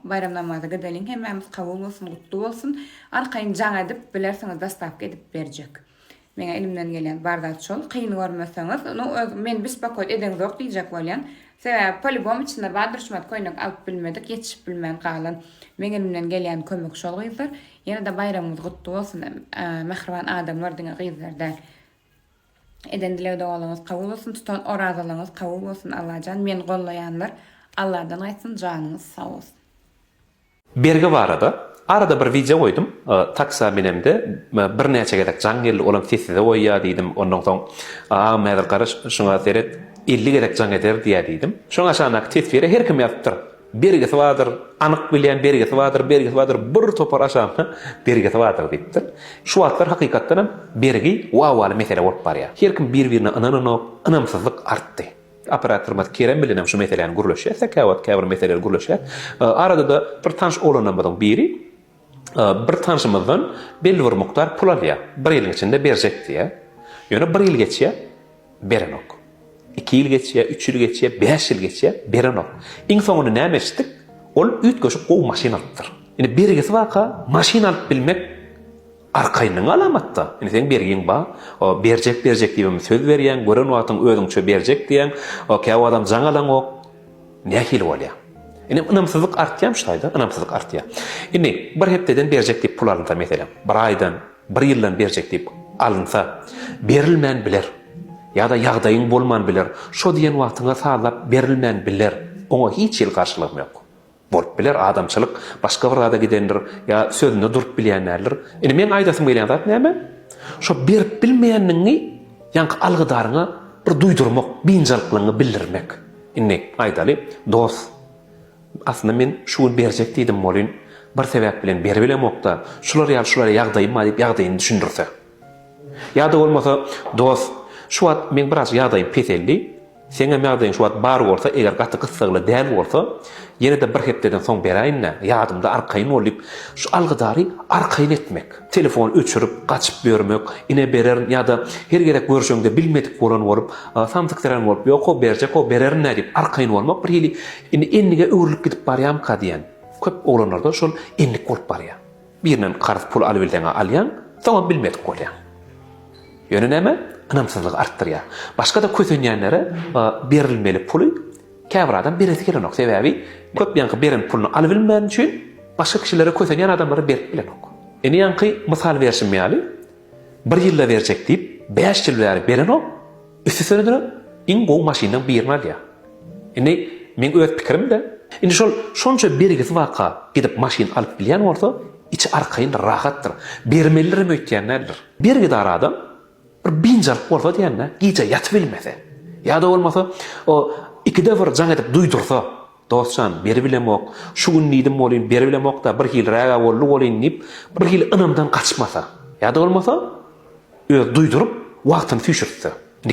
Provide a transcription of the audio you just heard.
Baýram namazy gideliň hemmämiz kabul bolsun gutly bolsun arkaýyn jaň edip bilersiňiz dostawka edip berjek meňe elimden gelýän bar zat şol kyn görmeseňiz nu öz meni bispakoýt edeňzok diýjek bolýan sebäbi polibom içinde bar durşmat köýnek alyp bilmedik ýetişip bilmän galan meň elimden gelýän kömek şol gyzlar ýene-de baýramyňyz gutly bolsun mähriban adamlar diňe gyzlar däl. Eden dileg dogalyňyz kabul bolsun tutan orazalygyňyz kabul bolsun Allajan meni gollaýanlar Alladan gaýtsyn janyňyz sag bolsun. Bergi barada arada bir wideo goýdum taksa menemde bir näçe gezek jaň geldi olam sessize goýýa diýdim ondan soň agam häzir gara şuňa seret elli gezek jaň eder diýä diýdim şoň aşagyndaky teswire her kim ýazypdyr Bergisi bardyr, anyk bilýän bergisi bardyr, bergisi bardyr, bir topar aşagynda bergisi bardyr diýipdir. Şu wagtlar hakykatdan hem bergi wawaly mesele bolup barýar. Her kim bir-birine ynananok, ynamsyzlyk artdy. Operatorymyz Kerem bilen hem şu meseläni gürleşýäs, säkä wagt käbir meseleleri gürleşýäs. Arada-da bir tanyş oglanlarymyzyň biri Bir tanşymyzdan belli bir mukdar pul alýar. Bir ýylyň içinde berjek diýýär. Ýöne bir ýyl geçýär, berenok. Iki ýyl geçýär, üç ýyl geçýär, bäş ýyl geçýär, berenok. Iň soňunda näme eşitdik? Ol üýtgeşik gowy maşyn alypdyr. Indi bergisi baka maşyn alyp bilmek Arkaýynlygyň alamatda. Indi seň bergiň bar. Berjek berjek diýibem söz berýäň, gören wagtyň özüňçe berjek diýýäň. Käwagtam jaň alaňok. Nähili bolýar? Indi ynamsyzlyk artýarmyş taýda, ynamsyzlyk artýar. Indi bir hepdeden berjek diýip pul alynsa meselem, bir aýdan, bir ýyldan berjek diýip alynsa, berilmän biler. Ýa-da ýagdaýyň bolman biler. Şo diýen wagtyňa sazlap berilmän biler. Oňa hiç hili garşylygym ýok. Bolup biler, adamçylyk başga bir zada gidendir, ýa sözünde durup bilýän däldir. Indi meň aýdasym gelýän zat näme? Şo berip bilmeýänligiňi ýaňky algydaryňa bir duýdurmak, biynjalyklygyňy bildirmek. Indi, aýdaly, dos, aslynda men şu gün berjek diýdim welin, bir sebäp bilen beribilemok-da, şular ýaly, şular ýaly ýagdaýym bar diýip ýagdaýyny düşündirse. Ýa-da bolmasa, dos, şu wagt meň biraz ýagdaýym peseldi, Seňem ýagdaýyň şu wagt bar bolsa, eger gaty gyssagly däl bolsa, ýene-de bir hepdeden soň beräýin-dä, ýadymda arkaýyn bol diýip, şu algydary arkaýyn etmek, telefony öçürip, gaçyp ýörmek, ine bererin ýa-da her gezek görşeňde bilmedik bolan bolup, samsyksyrän bolup, ýok-ow, berjek-ow, bererin-dä diýip, arkaýyn bolmak bir hili indi endige öwrülip gidip barýamyka diýýän. Köp oglanlarda şol endik bolup barýar. Birinden karz pul alybilseň-ä alýaň, soňam bilmedik bolýaň. Ýöne näme, ynamsyzlygy artdyrýar. Başga-da kösenýänlere berilmeli puly käbir adam beresi gelenok. Sebäbi köp ýaňky beren puluny alybilmäni üçin başga kişilere kösenýän adamlara berip bilenok. Ine ýaňky mysal berşim ýaly, bir ýylda berjek diýip, bäş ýyl bäri berenok. Üstesine-de iň gowy maşynlaň birini alýa. Indi meň öz pikirimde, indi şol şonça bergisi baka gidip maşyn alyp bilýän bolsa, içi arkaýyndyr, rahatdyr, bermelidirem öýtýän däldir. Bergidar adam bir biynjalyk bolsa diýen-dä, gije ýatyp bilmese, ýa-da bolmasa o ikide bir jaň edip duýdursa, Dos jan, beribilemok, şu gün diýdim welin beribilemok-da, birhiliräg-ä boldy welin diýip, birhili ynamdan gaçmasa, ýa-da bolmasa, özi duýduryp, wagtyny süýşürtse. Indi